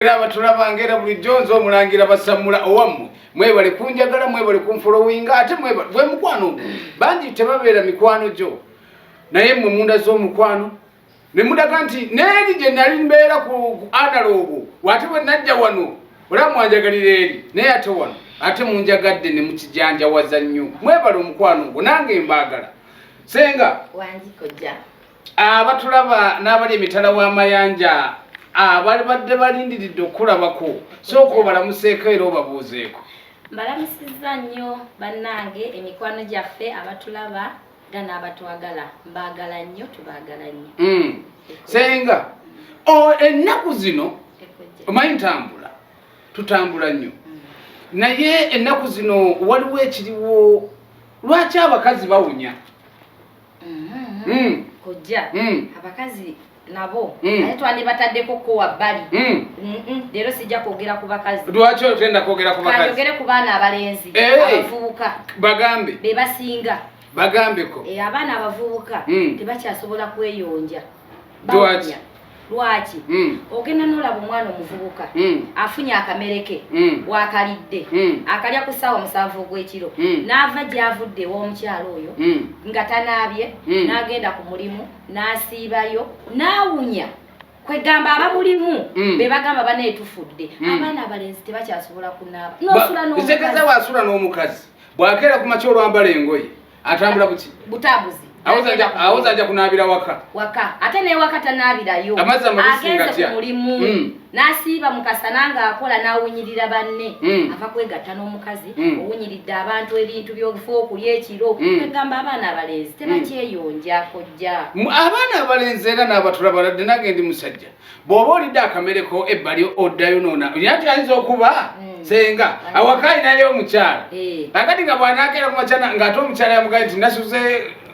era abatulabanga era bulijjo nze omulangira basammula owammwe mwebale kunjagala mwebale kunfolowinga ate bwe mukwano ogwo bangi tebabeera mikwano gyo naye mmwe munda z'omukwano ne mudaga nti neeri gye nali mbeera ku analoogo wate bwe najja wano olaba mwanjagalira eri naye ate wano ate munjagadde ne mukijanjawaza nnyo mwebale omukwano ogwo nange mbaagala senga wanjikojja abatulaba n'abali emitala w'amayanja abali badde balindiridde okukulabako sooka obalamuseeko era obabuuzeeko mbalamusizza nnyo bannange emikwano gyaffe abatulaba nga n'abatwagala mbaagala nnyo tubaagala nnyo hmm. senga ennaku zino omanyi ntambula tutambula nnyo hmm. naye ennaku zino waliwo ekiriwo lwaki abakazi bawunya mm-hmm. kojja mm. abakazi nabo mm. naye twandibataddeko kowa bbali leero sijja kwogera ku bakazi lwaki otenda kwogera ku bakazi kayogere ku baana abalenzi eh. abavubuka bagambe be basinga bagambeko eh, abaana abavubuka hmm. tebakyasobola kweyonja lwaki hmm. ogenda nolaba omwana omuvubuka hmm. afunye akamere ke hmm. wakalidde akalya ku ssaawa musanvu ogw'ekiro n'ava gyavudde ew'omukyalo oyo nga tanaabye n'agenda ku mulimu n'asiibayo n'awunya kwegamba abamulimu be bagamba banaye tufudde abaana abalenzi tebakyasobola kunaaba nosula n'omukazi bwakeera ku makya olwambala engoye atambula buki butambuzi awoza aja kunabira waka waka ate newaka tanabirayo agenze ku mulimu mm. nasiiba mukasana nga akola nawunyirira banne mm. ava kwegatta n'omukazi mm. owunyiridde abantu ebintu byokufa okulya ekiro mm. egamba abaana abalenzi mm. tebakyeyonja kojja abaana abalenzi era nabatula baladde nage ndi musajja bw'oba olidde akamereko ebbali oddayonoona olina nti ayinza okuba hmm. senga awaka alinayo omukyala eh. akati nga bwanakeera kumakyana ng'ate omukyala yamugaye nti nasuze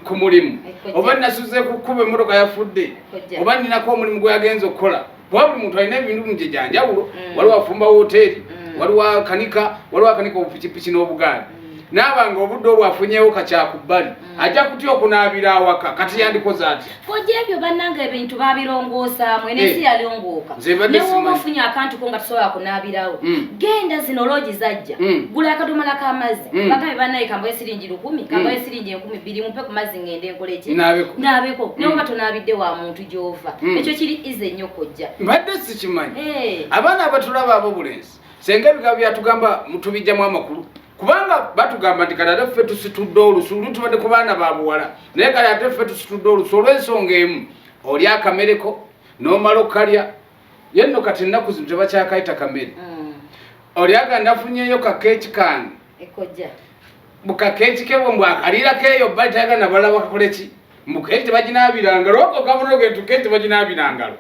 ku mulimu oba nasuze ku kkuba emmotoka yafudde oba ninako omulimu gwe yagenza okukola kuba buli muntu alina ebintu mugye gyanjawulo hmm. waliwo afumba woteeri hmm. waliwo akanika waliwo akanika obupikipiki n'obugaali naaba nga obudde obwo afunyewo kakyakubbali mm. ajja kutya okunaabira awaka kati yandikoze atya koja ebyo bannanga ebintu babirongoosamu enensi eh. yalongooka newoba ofunye akantu ko nga tusobola kunaabirawo mm. genda zino loogi zajja mm. gula akadomala k'amazzi bagabe banaye kambayo siringi lukumi kambayo siringi enkumi bbiri mumpe ku mazzi ngende nkoleki naabeko newoba tonaabidde wa muntu gy'ova ekyo kiri ize nnyo kojja mbadde sikimanyi eh. abaana abatulaba abo bulenzi senga ebigambo byatugamba mutubijjamu amakulu kubanga batugamba nti kati ate ffe tusitudde olusu lutubadde ku baana ba buwala naye kati ate ffe tusitudde olusu olw'ensonga emu oli akamereko n'omala okukalya ye nno kati ennaku zino tebakyakayita kamere mm. oli aga ndafunyeyo kakeeki kange bukakekikebwe mbwakaliira keyo bali tayagala nabalala bakakoleki Mbu keki tebaginaabira ngalo wako gavana ogentu keki tebaginaabira ngalo.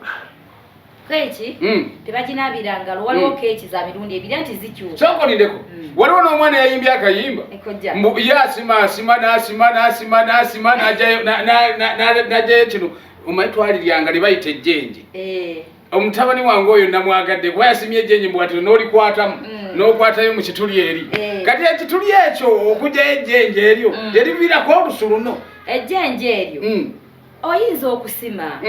Keki mm. tebaginaabira ngalo waliwo mm. keki za mirundi ebiri anti zikyuka. Soko nindeko. Mm. Waliwo n'omwana yayimbye akayimba. Ekojja. Mbu ye asima asima n'asima n'asima n'asima n'ajayo n'ajayo kino omanyi twaliryanga ne bayita ejjenje. Eh. omutabani wange oyo namwagadde kuba yasimye ejenyi mbwatiro nolikwatamu mm. nokwatayo mukituli eri eh. kati ekituli ekyo okujayo ejenje eryo mm. lyerivirako olusu luno ejenje eryo mm. oyinza okusima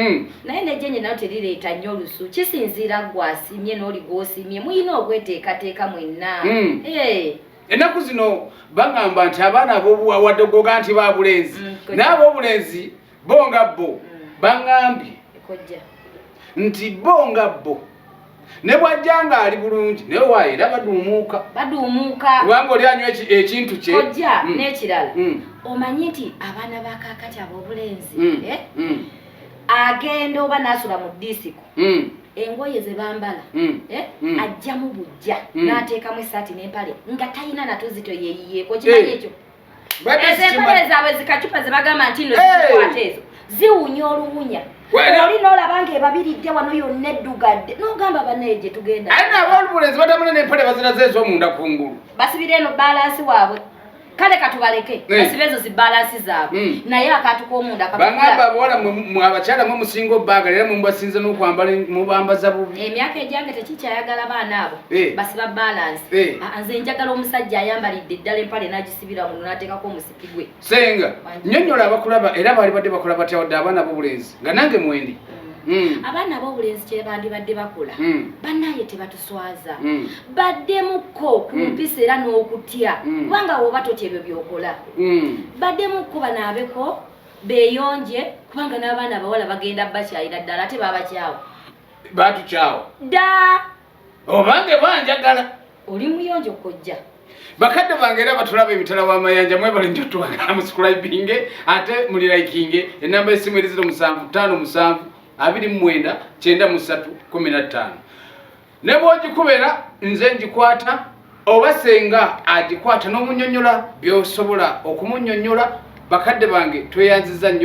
naye nejenje nayo terireeta nnyo olusu kisinziira gwasimye noli gwosimye muyina okweteekateeka mwenna eh. ennaku zino bagamba nti abaana abobuwawadde goga nti babulenzi naabobulenzi bo nga bo mm. baŋambye nti bo nga bo ne bwajja nga ali bulungi naye waayo era baduumuuka baduumuuka kubanga oli anywa ekintu kye kojja mm. n'ekirala mm. omanyi nti abaana ba kaakati ab'obulenzi eh? agenda oba n'asula mu disiko engoye ze bambala mm. eh? mm. ajjamu bujja mm. n'ateekamu esaati n'empale nga talina natuzito yeeyiyeeko kimanyi eh. ekyo ezo empale zaabwe zikacupa zebagamba nti no zikwata ezo ziwunya oluwunya oli nolaba nga ebabiridde wano yonna eddugadde nogamba banaye gye tugenda aye nabolubulezi batamune nempale baziraze ezomunda ku ngulu basibira eno balansi waabwe kale katubaleke eh. basibe ezo zibalansi zaabwe hmm. naye akantu komunda bangamba bola abakyala mwe musinga obbaagala era mwe mubasinze n'okwambala mubambaza bubi emyaka egyange tekikyayagala baana abo Eh. basiba balance eh. ah, nze njagala omusajja ayambalidde eddala empale nagisibira muno nateekako omusipi gwe senga nyonyola abakulaba era baali badde bakola batya wadde abaana bobulenzi nga nange mwendi mm. Mm. abaana bobulenzi kyebandibadde bakola mm. banaye tebatuswaza baddemukko ku mpisa era n'okutya kubanga woba totya ebyo byokola baddemukko banaabeko beyonje kubanga n'abaana abawala bagenda bakyayira ddala ate babakyawo batukyawo daa obange banjagala oli muyonjo kojja bakadde bange era batulaba emitala w'amayanja mwebale njo twagala muscribinge ate muli likinge enamba esimu eri ziro musanvu ttaano musanvu abiri mu mwenda kyenda mu ssatu kumi na ttaano ne bwogikubera nze ngikwata oba senga agikwata n'omunyonyola byosobola okumunyonyola bakadde bange tweyanziza nnyo